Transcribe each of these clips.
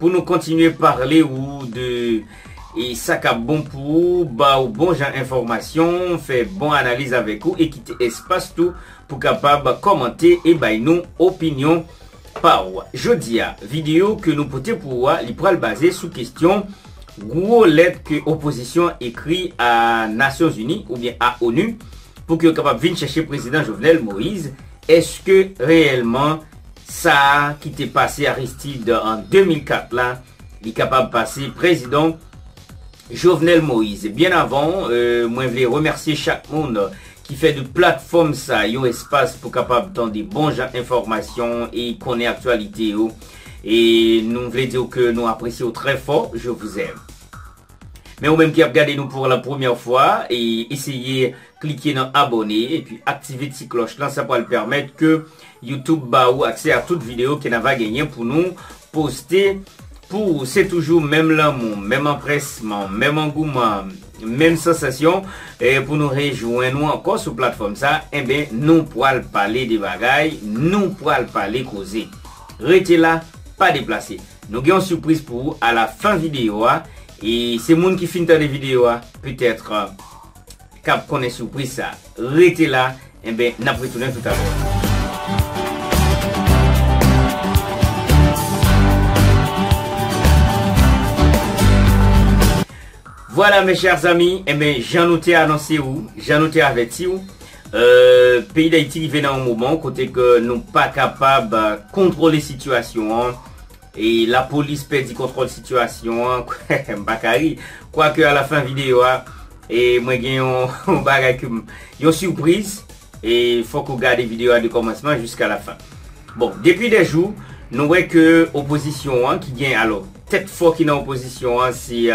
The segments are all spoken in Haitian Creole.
Pou nou kontinye parle ou de e sa kap bon pou ou, ba ou bon jan enfòmasyon, fè bon analiz avèk ou e kite espas tou pou kapab kòmante e bay nou opinyon pa ou. Jodi a, videyo ke nou pote pou ou a li pral baze sou kestyon gwo lèt ke opozisyon an ekri a Nasyonzini oubyen a onu pou ke yo kapab vin chèche Prezidan Jovenel Moise Eske reyèlman sa a ki te pase Aristide an 2004 la li kapab pase prezidan Jovenel Moise? Byen avan mwen vle remèsye chak moun ki fè de platfòm sa yon espas pou kapab tande bon jan enfòmasyon e konnen aktyalite yo e nou vle di w ke nou apresye w trè fò je vous aime. Men ou menm ki ap gade nou pour la première fois eseye Klike nan abone epi aktive ti klòch lan sa pral pèmèt ke YouTube ba ou aksè a tout video ke na va genyen pou nou poste pou ou se toujou menm lanmou menm anpresman menm angouman menm sansasyon pou nou rejwenn ou ankò sou platfòm sa enben nou pral pale de bagay nou pral pale koze rete la pa deplase nou gen yon sipriz pou ou a la fen video a e se moun ki fin tande video a petèt kap konnen soupriz sa. Rete la enben nap retounen toutalè. Vwala mes chers amis, enben eh jan nou te anonse ou, jan nou te avèti ou, euh, peyi d'Ayiti rive nan yon moman kote ke nou pa kapab kontwole sitiyasyon an, Lapolis pèdi kontwòl sitiyasyon an, m pa ka ri, kwake a la fen videyo a mwen gen yon bagay ke m, yon surprise, fòk ou gade videyo a de kòmansman jiska la fen. Bon, depi 2 jou, nou wè ke opozisyon an ki gen, alò, tèt fò ki nan opozisyon an se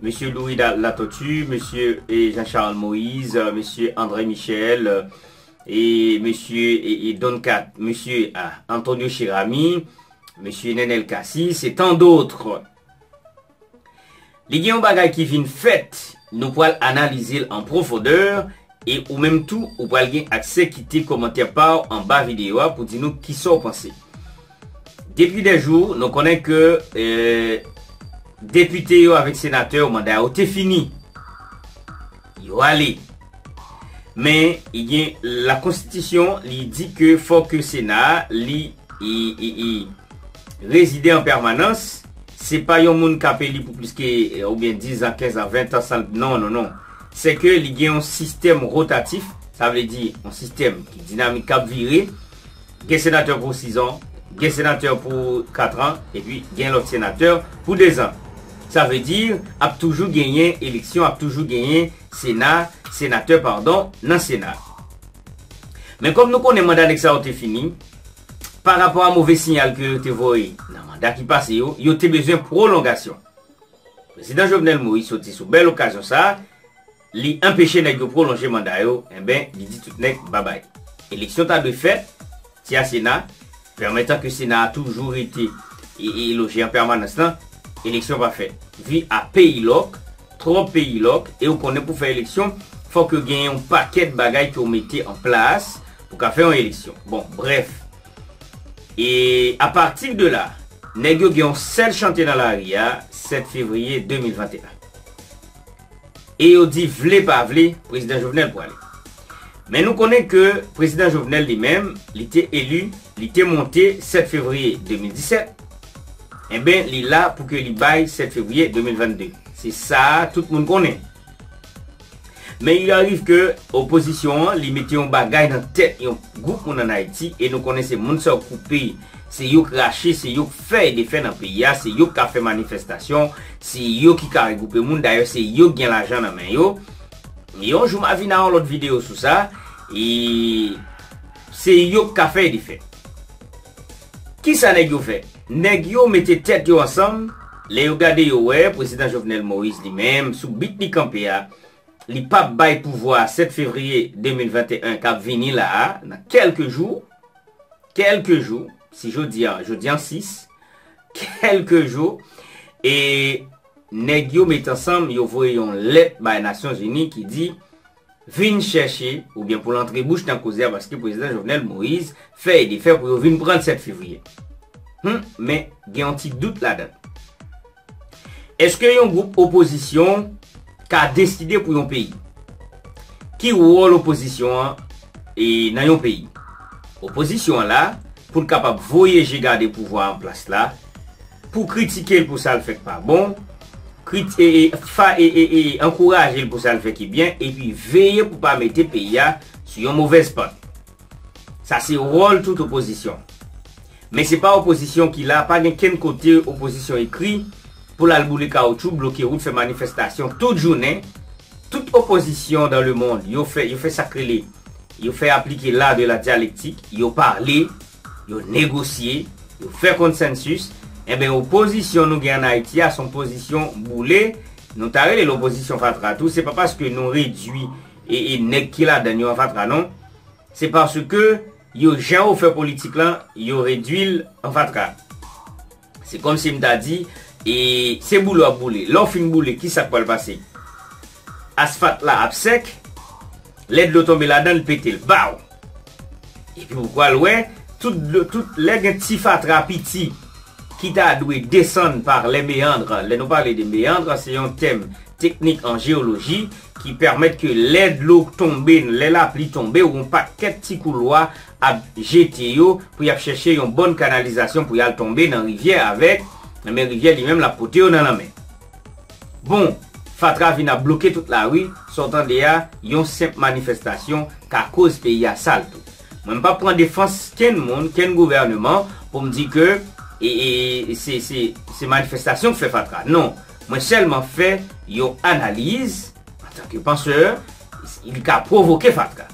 Mesye Louis Latortue, Mesye Jean Charles Moïse, Mesye André Michel, E mesye e Don Kat, mesye Antonio Cheramy, mesye Nenel Cassy, se tant d'autres. Li gen yon bagay ki vin fèt, nou pral analize l an pwofondeur, e ou menm tou ou pral gen aksè kite kòmantè pa w anba videyo a pou di nou kisa w panse. Depi dè jou, nou konnen ke depite yo avèk senatè yo manda yo te fini. Yo ale. Men, gen la konstitisyon li di ke fò ke sena a li rezide an pèmanans, se pa yon moun k ap eli pou plis ke oubyen dizan, kenzan, ventan san non, non, non. Se ke li gen yon sistèm rotatif, sa vle di yon sistèm ki dinamik k ap vire. Gen senatè pou sizan, gen senatè pou katran epi gen lòt senatè pou dezan. Sa vle di ap toujou genyen eleksyon, ap toujou genyen sena, senatè padon, nan sena. Men kòm nou konnen manda nèg sa yo te fini, pa rapò a move siyal ke yo te voye nan manda ki pase yo, yo te bezwen pwolongasyon. Prezidan Jovenel Moïse soti sou bèl okazyon sa, Li enpeche nèg yo pwolonje manda yo enben li di tout nèg babay. Eleksyon ta dwe fèt, ti a sena, pèmètan ke sena a toujou rete e e loje an pèmanans lan, eleksyon pa fèt. Vi a peyilòk, twòp peyilòk e ou konnen pou fè eleksyon fòk yo genyen yon pakèt bagay ke ou mete an plas pou ka fè yon eleksyon. Bon, brèf. E a patir de la, nèg yo gen yon sèl chante nan lari a 7 fevriye 2021. e yo di vle pa vle Prezidan Jovenel pwale. Men nou konnen ke Prezidan Jovenel li menm, li te eli, li te monte 7 fevriye 2017, enben li la pou ke li bay 7 fevriye 2022. Se sa a tout moun konnen. Men il arrive ke opozisyon an li mete yon bagay nan tèt yon gwoup moun an Ayiti e nou konnen se moun sa yo koupe, Se yo k rache, se yo k fè e defè nan peyi a, se yo k ka fè manifestasyon, se yo ki ka regwoupe moun, dayè se yo k gen lajan nan men yo. Yon jou m a vin a yon lòt videyo sou sa, e se yo k ka fè e defè. Kisa nèg yo fè? Nèg yo mete tèt yo ansanm, lè yo gade yo wè Prezidan Jovenel Moïse li menm sou bit li kanpe a, li p ap bay pouvwa a 7 fevriye 2021 k ap vini la a, nan kèlke jou, kèlke jou, si jodi a, jodi an 6, kèlke jou, e nèg yo met ansanm, yo voye yon lèt bay Nasyon Zini ki di, vin chèche, oubyen pou l antre bouch nan koze a, paske Prezidan Jovenel Moïse fè e defè pou yo vin pran l 7 fevriye. Hum, men gen yon ti dout ladan. Eske yon gwoup opozisyon ka deside pou yon peyi? Ki wòl opozisyon an nan yon peyi? Opozisyon an la pou l kapab voye je gade pouvwa an plas la, pou kritike l pou sa l fè k pa bon, ankouraje l pou sa l fè ki byen epi veye pou pa mete peyi a sou yon movèz pant. Sa se wòl tout opozisyon. Men se pa opozisyon ki la, pa gen kenn kote opozisyon ekri pou l al boule kawoutchou, bloke wout, fè manifestasyon tout jounen. Tout opozisyon dan le mond, yo fè, yo fè sa k rele, yo fè aplike l'art de la dialectique, yo pale, yo negosye, yo fè consensus. Enben opozisyon nou gen an Ayiti a son pozisyon boule, nou ta rele l opozisyon fatra tou, se pa paske nou redui E e nèg ki ladann yo an fatra non. Se paske yo jan yo fè politik lan yo redwi l an fatra. Se kòm si m ta di e se boule w ap boule. Lè w fin boule kisa k pral pase? Asfat la ap sèk, lè dlo tonbe ladan l pete l. Baw! Epi ou pral wè tout dlo tout lè gen ti fatra piti ki ta dwe desann par les méandres, lè nou pale de méandres se yon tèm teknik an jeyoloji ki pèmèt ke lè dlo tonbe lè lapli tonbe yon pakèt ti koulwa ap jete yo pou y ap chèche yon bòn kanalizasyon pou y al tonbe nan rivyè avèk, men rivyè li menm l ap pote yo nan lanmè. Bon, fatra vin ap bloke tout lari, sa w tande a, yon senp manifestasyon ka koz peyi a sal tou. Mwen m pap pran defans kenn moun, kenn gouvèneman pou m di ke se manifestasyon k fè fatra. Non, mwen sèlman fè yon analiz antanke pansè, li ka pwovoke fatra.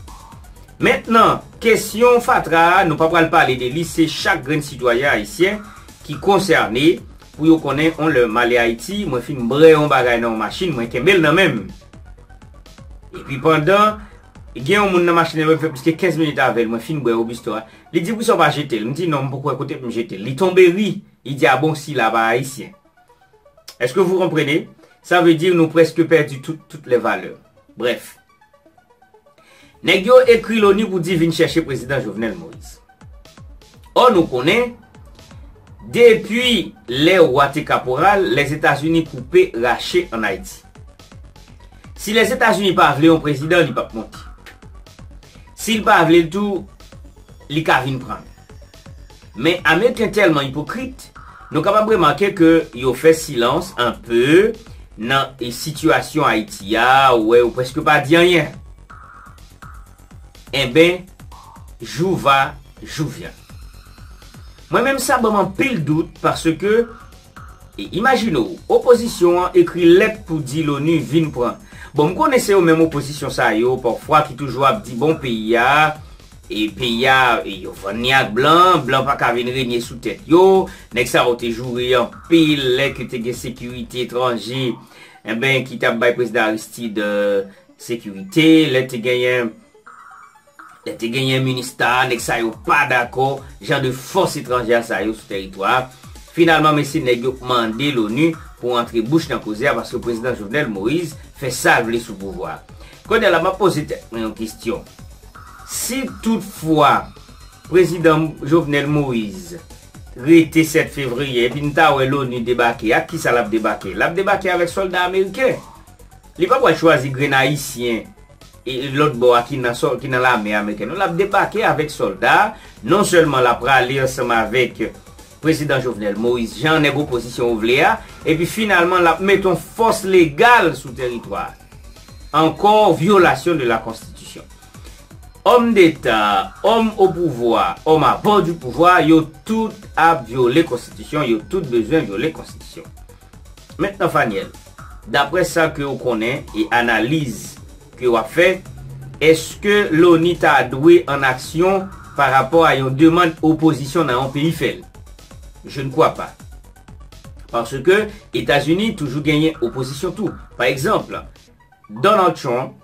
Mentnan, kesyon fatra a, nou pa pral pale de li, se chak grenn sitwayen ayisyen ki konsène. Pou yo konnen on lè m ale Ayiti, mwen fin brè on bagay nan on machin, mwen kenbe l nan men m. Epi pandan gen on moun nan machin nan mwen fè plis ke 15 minit avè l, mwen fin brè Robusto a, li di poukisa w pa jete l? M di non, m poko wè kote pou m jete l. Li tonbe ri, li di a bon sila pa Ayisyen. Eske vou konprenez? Sa vle di nou prèske pèdi tout, tout lè valè. Brèf. Nèg yo ekri loni pou di vin chèche prezidan Jovenel Moise. Ò nou konnen, depi lè Wa te kaporal, Lèzetazini koupe, rache an Ayiti. Si Lèzetazini pa vle yon prezidan, li pap monte. Si l pa vle l tou, li ka vin pran l. Men Ameriken tèlman ipokrit, nou kapab remake ke yo fè silans anpe nan sitiyasyon Ayiti a, ou wè yo prèske pa di anyen. Enben, jou va, jou vyan. Mwen menm sa banm anpil dout paske, e imajine w, opozisyon an ekri lèt pou di Loni vin pran. Bon, m konnen se yo menm opozisyon sa yo pafwa ki toujou ap di bon peyi a, E peyi a, yo vann ni ak blan, blan pa ka vin renye sou tèt yo, nèg sa yo te joure anpil lè ke te gen sekirite etranje enben ki t ap bay prezidan Aristide sekirite, lè te genyen lè te genyen minista a, nèg sa yo pa dakò jan de fòs etranjè sa yo sou tèritwa a, finalman men se nèg yo mande l'ONU pou antre bouch nan koze a paske prezidan Jovenel Moïse fè sa l vle sou pouvwa a. Kounye la m ap poze tèt mwen yon kestyon, Si tout fwa prezidan Jovenel Moise rete 7 fevriye epi n ta wè Loni debake ak kisa lap debake? Lap debake avèk sòlda ameriken. Li pa pwal chwazi grenn ayisyen e lòt bò a ki nan lame ameriken non lap debake avèk sòlda non sèlman la prale ansanm avèk Prezidan Jovenel Moise Jean nèg opozisyon ou vle a, epi finalman l ap met on fòs legal sou teritwa a. Ankò vyolasyon de la konstitisyon. Òm deta, òm o pouvwa, òm a bò di pouvwa, yo tout ap vyole konstitisyon, yo tout bezwen vyole konstitisyon. Mentnan Faniel, daprè sa ke ou konnen e analiz ke wap fè, eske loni ta dwe an aksyon pa rapò a yon demand opozisyon nan yon peyi fèl? Je ne crois pas. Paske Etazini toujou genyen opozisyon tou. Pa egzanpl, Donald Trump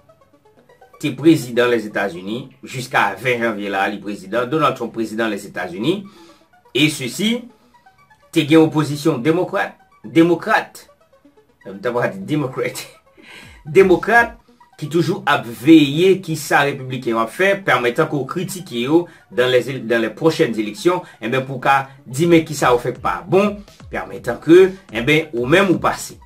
te prezidan Lèzetazini jiska 20 janvye la li prezidan, Donald Trump prezidan Lèzetazini e sesi. Te gen opozisyon demokrat, demokrat, m ta va di democrat, demokrat ki toujou ap veye ki sa repibliken yo ap fè, pèmetan ke w kritike yo dan lè ze, dan lè pwochèn eleksyon, enben pou w ka di men ki sa yo fè k pa bon, pèmetan ke, enben ou menm ou pase.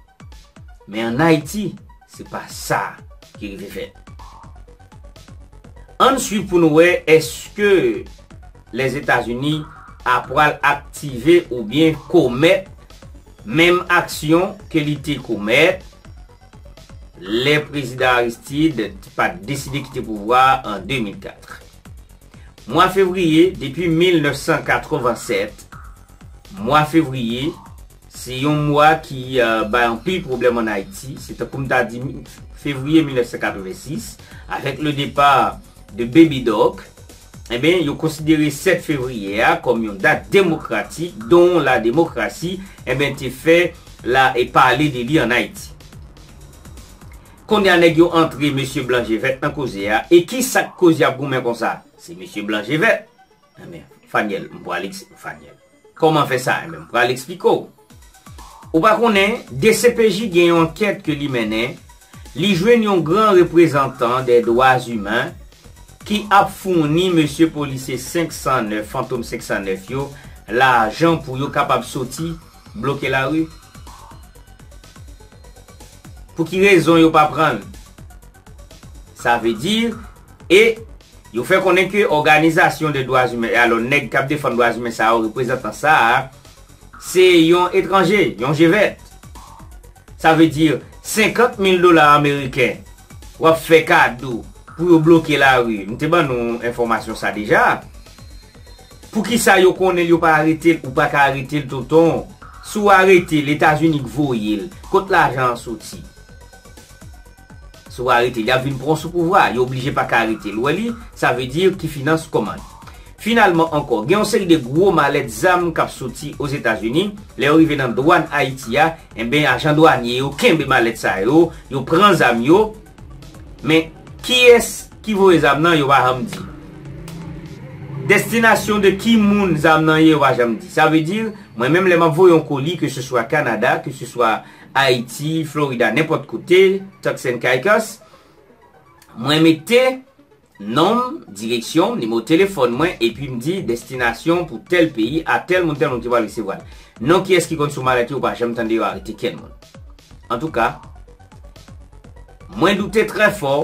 Men an Ayiti, se pa sa ki rive fèt. Ann swiv pou nou wè eske. Lèzetazini a pral aktive oubyen komèt menm aksyon ke li te komèt lè Prezidan Aristide t pat deside kite pouvwa a an 2004. Mwa fevriye depi 1987, mwa fevriye se yon mwa ki bay anpil pwoblèm an Ayiti, se tankou m ta di fevriye 1986 avèk le depart de Baby Doc, Enben, yo konsidere 7 fevriye a kòm yon dat demokratik don la demokrasi enben te fè la e pale de li an Ayiti. Konnya nèg yo antre mesye blan je vèt nan koze a e ki sa k koz y ap goumen konsa? Se mesye blan je vèt! Enben, Fanyèl, m pwale k se Fanyèl. Kòman fè sa? Enben, m pral eksplike w. Ou pa konnen, dcpj gen yon ankèt ke li mennen, li jwenn yon gran reprezantan dè dwa imen ki ap founi mesye polisye 509, fantom 509 yo, lajan pou yo kapab soti bloke lari? Pou ki rezon yo pa pran l? Sa vle di, e. Yo fè konnen ke òganizasyon de dwazimen e alò nèg kap defann dwazimen sa yo reprezantan sa a se yon etranje, yon je vèt. Sa vle di 50 mil dola ameriken wap fè kado pou yo bloke lari, m te ban nou enfòmasyon sa deja. Poukisa yo konnen l yo pa arete l, ou pa ka arete l tonton, si w arete l Etazini k voye l, kot lajan an soti? Si w arete l, y ap vin pran w sou pouvwa a. Yo oblije pa ka arete l. Ou wè li? Sa vle di ki finans kòmand. Finalman ankò, gen yon seri de gwo malèt zam k ap soti Ozetazini. Lè yo rive nan dwàn Ayiti a, enben ajan dwanye yo kenbe malèt sa yo, yo pran zam yo. Men, kiyès ki voye zam nan, yo pa janm di. Destinasyon de ki moun zam nan ye, yo pa janm di. Sa vle di, mwen menm lè m ap voye yon koli, keseswa Kanada, keseswa Ayiti, Florida, nenpòt kote, Turks and Caicos, mwen mete non m, direksyon m, nimewo telefòn mwen, epi m di destinasyon pou tèl peyi a tèl moun tèl moun ki pral resevwa l. Non kiyès ki konn sou malèt yo ou pa janm tande yo arete kenn moun. Antouka, mwen doute trè fò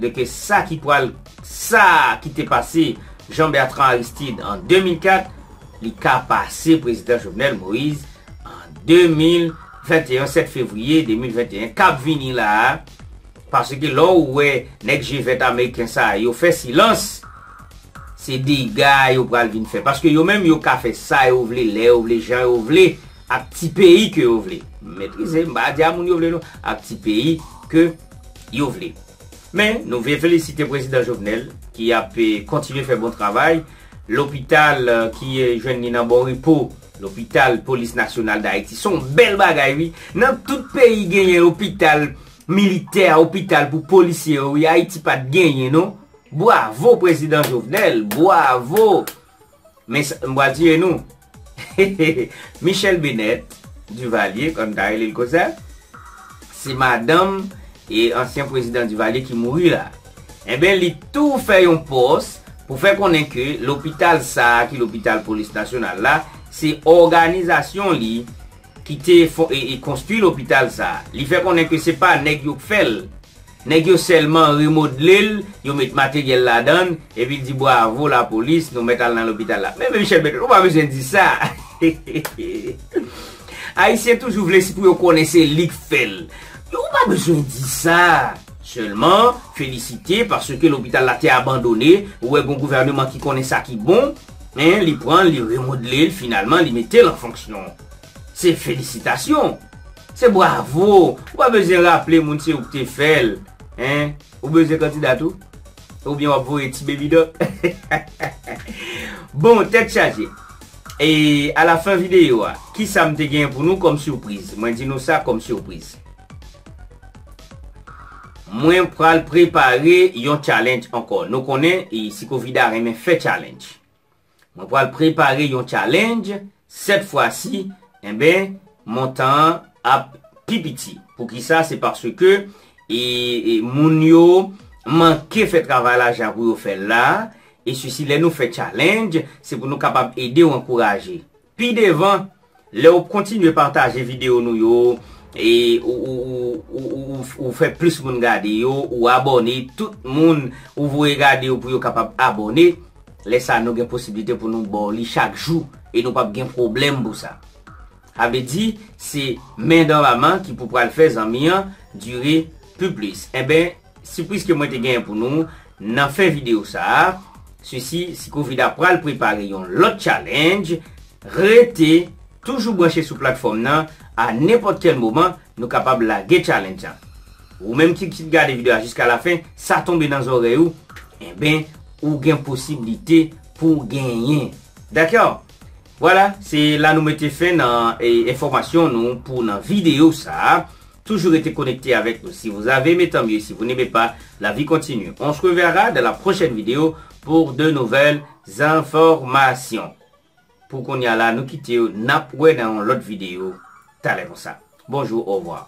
de ke sa ki pral sa ki te pase Jean Bertrand Aristide an 2004 li ka pase Prezidan Jovenel Moïse an 2021 7 Fevrier 2021 kap vini la a paske lè ou wè nèg je vèt Ameriken sa a yo fè silans se dega yo pral vin fè paske yo menm yo ka fè sa yo vle lè yo vle jan yo vle Ak ti peyi ke yo vle. Metrize, m pa di a moun yo vle non. Ak ti peyi ke yo vle. Men, nou vle felisite Prezidan Jovenel ki ap kontinye fè bon travay. Lopital ki jwenn li nan bon repo, lopital Polis Nasyonal Dayiti, son bèl bagay wi. Nan tout peyi genyen opital militè, opital pou polisye yo wi. Ayiti pat genyen non. Bwavo Prezidan Jovenel! Bwavo Men sa m pral tiye nou. Michèle Benèt Divalye kòm ta rele l konsa se madanm e ansyen pwezidan Divalye ki mouri la. Enben li tou fè yon pòs pou fè konnen ke lopital sa a ki lopital polis nasyonal la se òganizasyon li ki te e konstwi lopital sa a. Li fè konnen ke se pa nèg yo k fè l. Nèg yo sèlman remodle l, yo met materyèl ladan l, epi l di bwavo lapolis, nou mèt al nan lopital la. Men men Michel Berthold, ou pa bezwen di sa. Ayisyen toujou vle se pou yo konnen se li k fè l. Ou pa bezwen di sa. Sèlman, felisite, paske lopital la te abandone, ou wè gon gouvèneman ki konnen sa ki bon, li pran l, li remodle l, finalman li mete l an fonksyon. Se felisitasyon! Se bwavo! Ou pa bezyen raple moun se ou k te fè l. Hein? Ou bezyen kandida tou? Oubyen w ap voye ti Baby Doc? Bon, tèt chaje! E a la fen videyo a, ki sa m te genyen pou nou kòm sipriz? Mwen di nou sa kòm sipriz. Mwen pral prepare yon challenge ankò. Nou konnen, Sikovida renmen fè challenge. Mwen pral prepare yon challenge sèt fwa si enben montan an ap pi piti. Poukisa se paske e moun yo manke fè travay la jan pou yo fèl la e sisi lè nou fè challenge se pou nou kapab ede ou ankouraje. Pi devan, lè ou kontinye pataje videyo nou yo, ou fè plis moun gade yo, ou abòne, tout moun ou voye gade yo pou yo kapab abòne, lè sa nou gen posiblite pou nou ba w li chak jou, e nou pap gen pwoblèm pou sa. Sa vle di, se men dan laman ki pou pral fè zanmi an dire pi plis. Enben, Sipriz ke mwen te genyen pou nou nan fen video sa a, sesi si Covida pral prepare yon lòt challenge, rete toujou branche sou platfòm nan a nenpòt kèl moman nou kapab lage challenge lan. Ou menm ki ki gade video a jiska la fen sa tonbe nan zòrèy ou enben ou gen posiblite pou genyen. Dakò! Vwala se la nou mete fen nan enfòmasyon nou pou nan video sa a. Toujou rete konekte avèk nou si vous avez aimé tant mieux si vous n'aimez pas la vie continue on se reverra dans la prochaine vidéo pour de nouvelles informations pou kounya la nou kitew nap wè nan yon lòt vidéo talè konsa bonjour au revoir.